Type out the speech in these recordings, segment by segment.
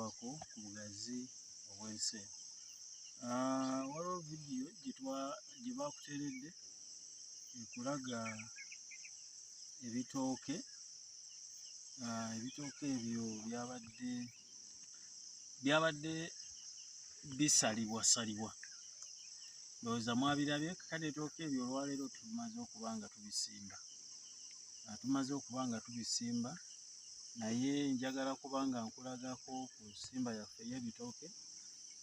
wako ku bugazi obw'ensi eno ah, waliwo vidiyo gye bakuteredde ekulaga ebitooke ah, ebitooke ebyo byabadde byabadde bisalibwasalibwa ndowooza mwabirabye kale etooke ebyo olwaleero tumaze okuba nga tubisimba ah, tumaze okuba nga tubisimba naye njagala kuba nga nkulagako ku nsimba yaffe ey'ebitooke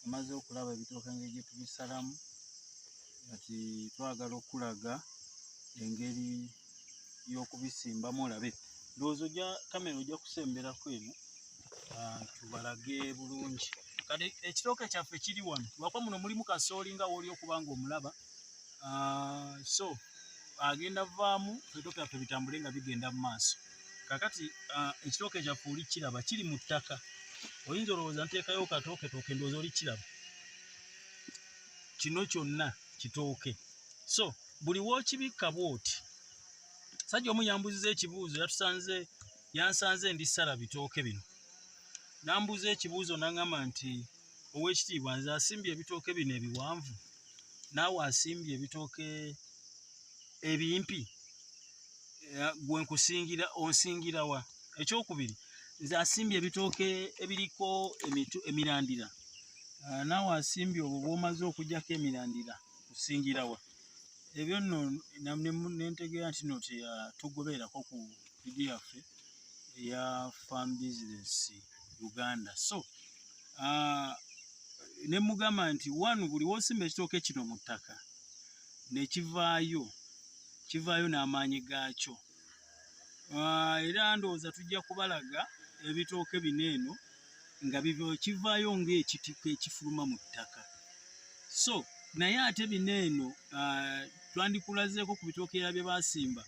omaze okulaba ebitooke engeri gye tubisalamu kati twagala okulaga engeri y'okubisimbamu olabe ndowooza oja kamera ojja kusemberako eno ah, tubalage bulungi kati ekitooke kyaffe kiri wano lwakuba muno mulimu kasooli nga wooli okuba nga omulaba ah, so agenda vaamu ebitooke byaffe bitambule nga bigenda mu maaso kakati uh, ekitooke kyaffe oli kiraba kiri mu ttaka oyinza olowooza nteekayo katooke tooke ndowooza oli kiraba kino kyonna kitooke so buli wookibikka bwoti sajja omu yambuziza ekibuuzo yatusanze yansanze ndi sala bitooke bino nambuuza ekibuuzo naŋama nti owekitiibwa nze asimbye ebitooke bino ebiwanvu naawe asimbye ebitooke ebimpi eh, gwe nkusingira onsingira wa ekyokubiri nze asimbye ebitooke ebiriko emirandira ah, naawe asimbye obwo bwomaze okujjako emirandira kusingira wa ebyo nno nentegeera nti no tugobeerako ku vidiyo yaffe eya farm business uganda so uh, ne mugamba nti one buli wosimba ekitooke kino mu ttaka nekivaayo kivaayo n'amaanyi gaakyo uh, era ndowooza tujja kubalaga ebitooke bino eno nga kivaayo ngaekitiko ekifuluma mu ttaka so naye ate bino eno uh, twandikulazeeko ku bitookeera bye basimba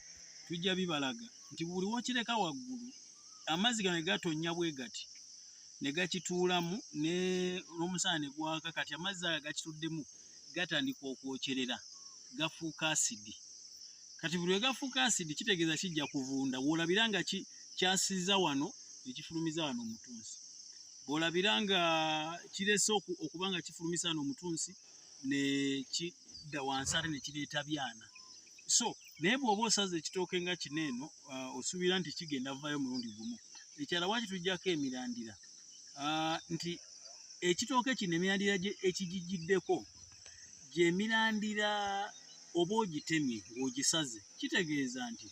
tujja bibalaga nti buli wokireka waggulu amazzi gano ne gatonnya bwe gati ne gakituulamu ne n'omusana ne gwaka kati amazzi aga gakituddemu gatandika okwokyerera gafuuka asidi kati buli lwe gafuuka asidi kitegeeza kijja kuvunda w'olabira nga kyasiza wano ne kifulumiza wano omutunsi bw'olabira nga kirese okuba nga kifulumisa wano omutunsi ne kidda wansi ate ne kireeta byana so naye bwoba osaza ekitooke nga kino eno uh, osuubira nti kigenda vayo mulundi gumu ekyala waki tujjako emirandira uh, nti ekitooke kino emirandira ekigijiddeko gyemirandira oba ogitemye ng'ogisaze kitegeeza nti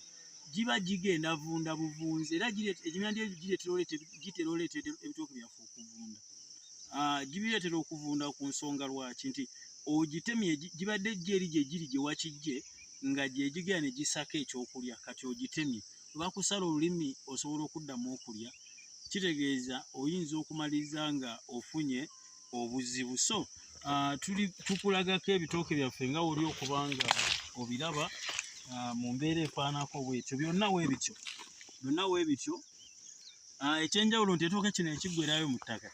giba gigenda vunda buvunzi era emirandira egyo gitera oleeta ebitooke byaffe okuvunda ah, gibireetera okuvunda ku nsonga lwaki nti ogitemye gibadde ejjo eri gye giri gye wakijje nga gye gigera ne gisako ekyokulya kati ogitemye bakusala olulimi osobola okuddamu okulya kitegeeza oyinza okumaliriza nga ofunye obuzibu so ah, tuli tukulagako ebitooke byaffe nga woli okuba nga obiraba ah, mu mbeera efaanako bwetyo byonna webityo byonna webityo Ah, ekyenjawulo nti etooke kino ekiggwerayo mu ttaka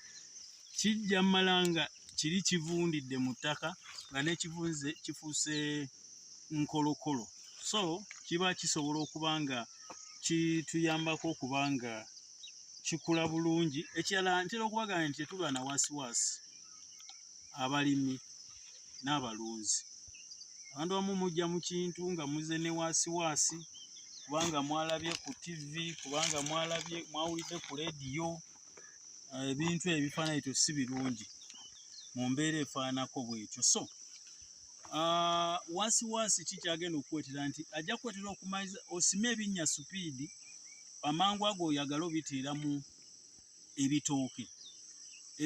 kijja mala nga kiri kivundidde mu ttaka nga nekivunze kifuuse nkolokolo so kiba kisobola okuba nga kituyambako okuba nga kikula bulungi ekirala ntera okubagana nti tetulwa na wasiwasi abalimi n'abalunzi abantu bamu mujja mu kintu nga muze ne waasiwaasi kubanga mwalabye ku ttivi kubanga mwalabye mwawulidde ku leediyo eh, ebintu ebifaananyi to si birungi mu mbeera efaanako bwekyo so ah, waasiwaasi ki kyagenda okukwetera nti ajja kukwetera okumaiza osime ebinnya supiidi amangu ago oyagala obiteeramu ebitooke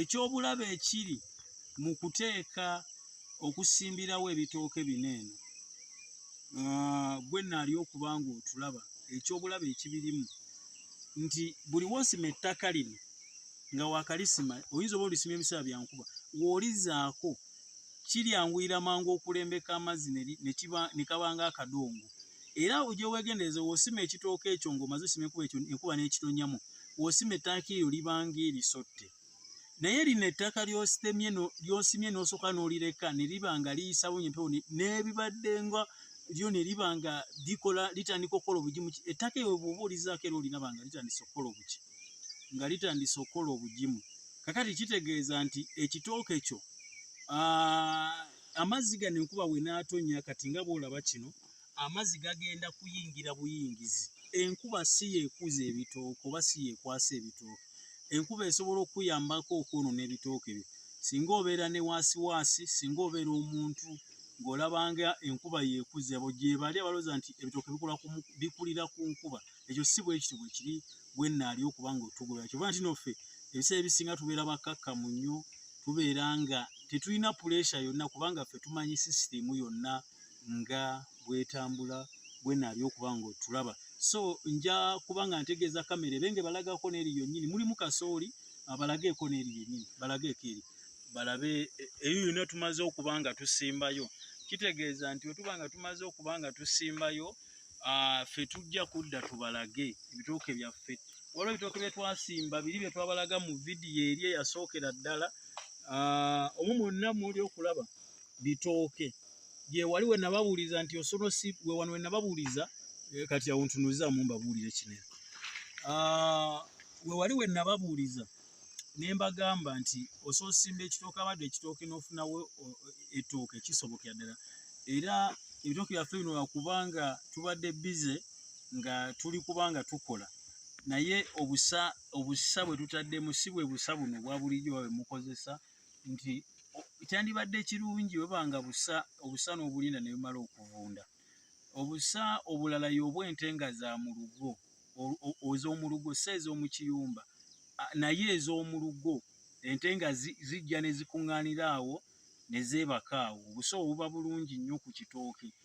ekyobulabe ekiri mu kuteeka okusimbirawo ebitooke bino eno ah, gwe naali okuba nga otulaba ekyobulabe ekibirimu nti buli wosima ettaka lino nga wakalisima oyinza oba olisima ebiseera byankuba wolizaako kiryanguyira mangu okulembeka amazzi nekabanga akadongo era ojewegendereza wosima ekitooka ekyo ngaomaze osima ekuba ekyo enkuba nekitonyamu w'osima ettaka eryo libanga erisotte naye lino ettaka ly'ositemye ly'osimye n'osooka n'olireka ne liba nga liyisawo nyo empewo n'ebibadde nga lyo ne liba nga likola litandika okukola obugimu ettaka ewe bw'oba olizaako era oliraba nga litandise okukola obuki nga litandise okukola obugimu kakati kitegeeza nti ekitooke kyo amazzi gano enkuba we n'atonnya kati nga bw'olaba kino Amazzi gagenda kuyingira buyingizi. Enkuba si y'ekuza ebitooke oba si y'ekwasa ebitooke. Enkuba esobola okukuyambako okwonoona ebitooke byo. Singa obeera ne waasiwaasi, singa obeera omuntu ng'olaba nga enkuba y'ekuza, abo gye bali abalooza nti ebitooke bikulira ku nkuba. Ekyo si bwe kityo bwe kiri bwe nnaali okuba ng'otugoberera. Kyova nti noffe ebiseera ebisinga tubeera bakkakkamu nnyo, tubeera nga tetulina puleesha yonna kubanga ffe tumanyi sisitiimu yonna. nga bwetambula bwenaali okuba nga otulaba so nja kuba nga ntegeeza kamera ebe nga balagako neeri yonyini mulimu kasooli abalageeko neeri yenyini balageeko eri balabe e, eyo yona tumaze okuba nga tusimbayo kitegeeza nti wetuba nga tumaze okuba nga tusimbayo ffe tujja kudda tubalage ebitooke byaffe waliwo ebitooke byetwasimba biri byetwabalaga mu vidiyo eri eyasookera ddala omu mwonna muli okulaba bitooke gyewali we nababuuliza nti osono si we wano we nababuuliza eh, kati awo ntunuzamu mbabuulire kinene ah, we wali we nababuuliza ne mbagamba nti osoosimba ekitooke abadde ekitooke n'ofunawo etooke kisobokera ddala era ebitooke byaffe bino wakubanga tubadde bize nga tuli kubanga tukola naye obusa obusa bwe tutaddemu si bwe busa buno bwa bulijjo babe mukozesa nti kyandibadde kirungi weba nga busa obusa n'obulinda ne bumala okuvunda obusa obulala y'obwente nga za mu lugo ez'omu lugo si ez'omu kiyumba naye ez'omu lugo ente nga zijja ne zikuŋŋaanira awo ne zeebaka awo obusa obuba bulungi nnyo ku kitooke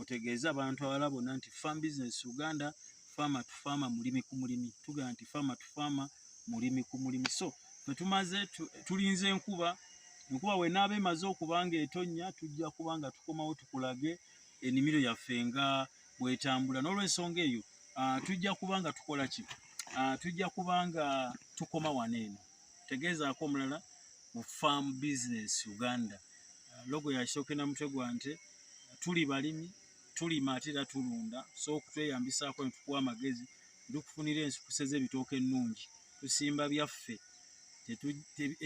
otegeeze abantu abala bonna nti farm business uganda faama tu faama mulimi ku mulimi tugamba nti faama tu faama mulimi ku mulimi so fetumaze tulinze enkuba enkuba wenaaba emaze okuba nga etonnya tujja kuba nga tukomawo tukulage enimiro yaffe nga bwetambula n'olwensonga eyo ah, tujja kuba nga tukola ki ah, tujja kuba nga tukoma wano eno tegeezaako omulala mu farm business uganda uh, logo yakisooke na mutwe gwa nte tuli balimi tulima ate era tulunda so okutweyambisaako netukuwa amagezi tukufunira ensukuse z'ebitooke ennungi tusimba byaffe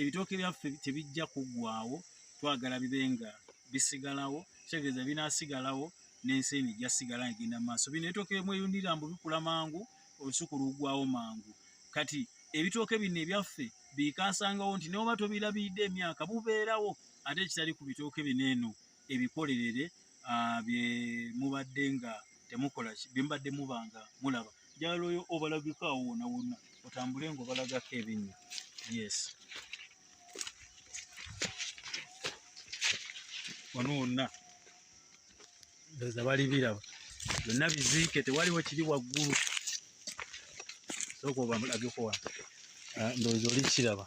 ebitooke byaffe tebijja kuggwawo twagala bibe nga bisigalawo kitegeeza binasigalawo n'ensi eno ejja sigala egenda mu maaso bino ebitooke byemweyundira mbu bikula mangu olusuku lugwawo mangu kati ebitooke bino ebyaffe biikaasangawo nti noba tobilabiridde emyaka bubeerawo ate ekitali ku bitooke bino eno ebikolerere bye mubadde nga temukola bye mubadde muba nga mulaba njagala oyo obalageko awo wona wonna otambule nga obalagako ebinnya yes wano wonna ndoza bali biraba byonna biziike tewaliwo kiri waggulu sooka obamulabyekowa ah, ndowooza oli kiraba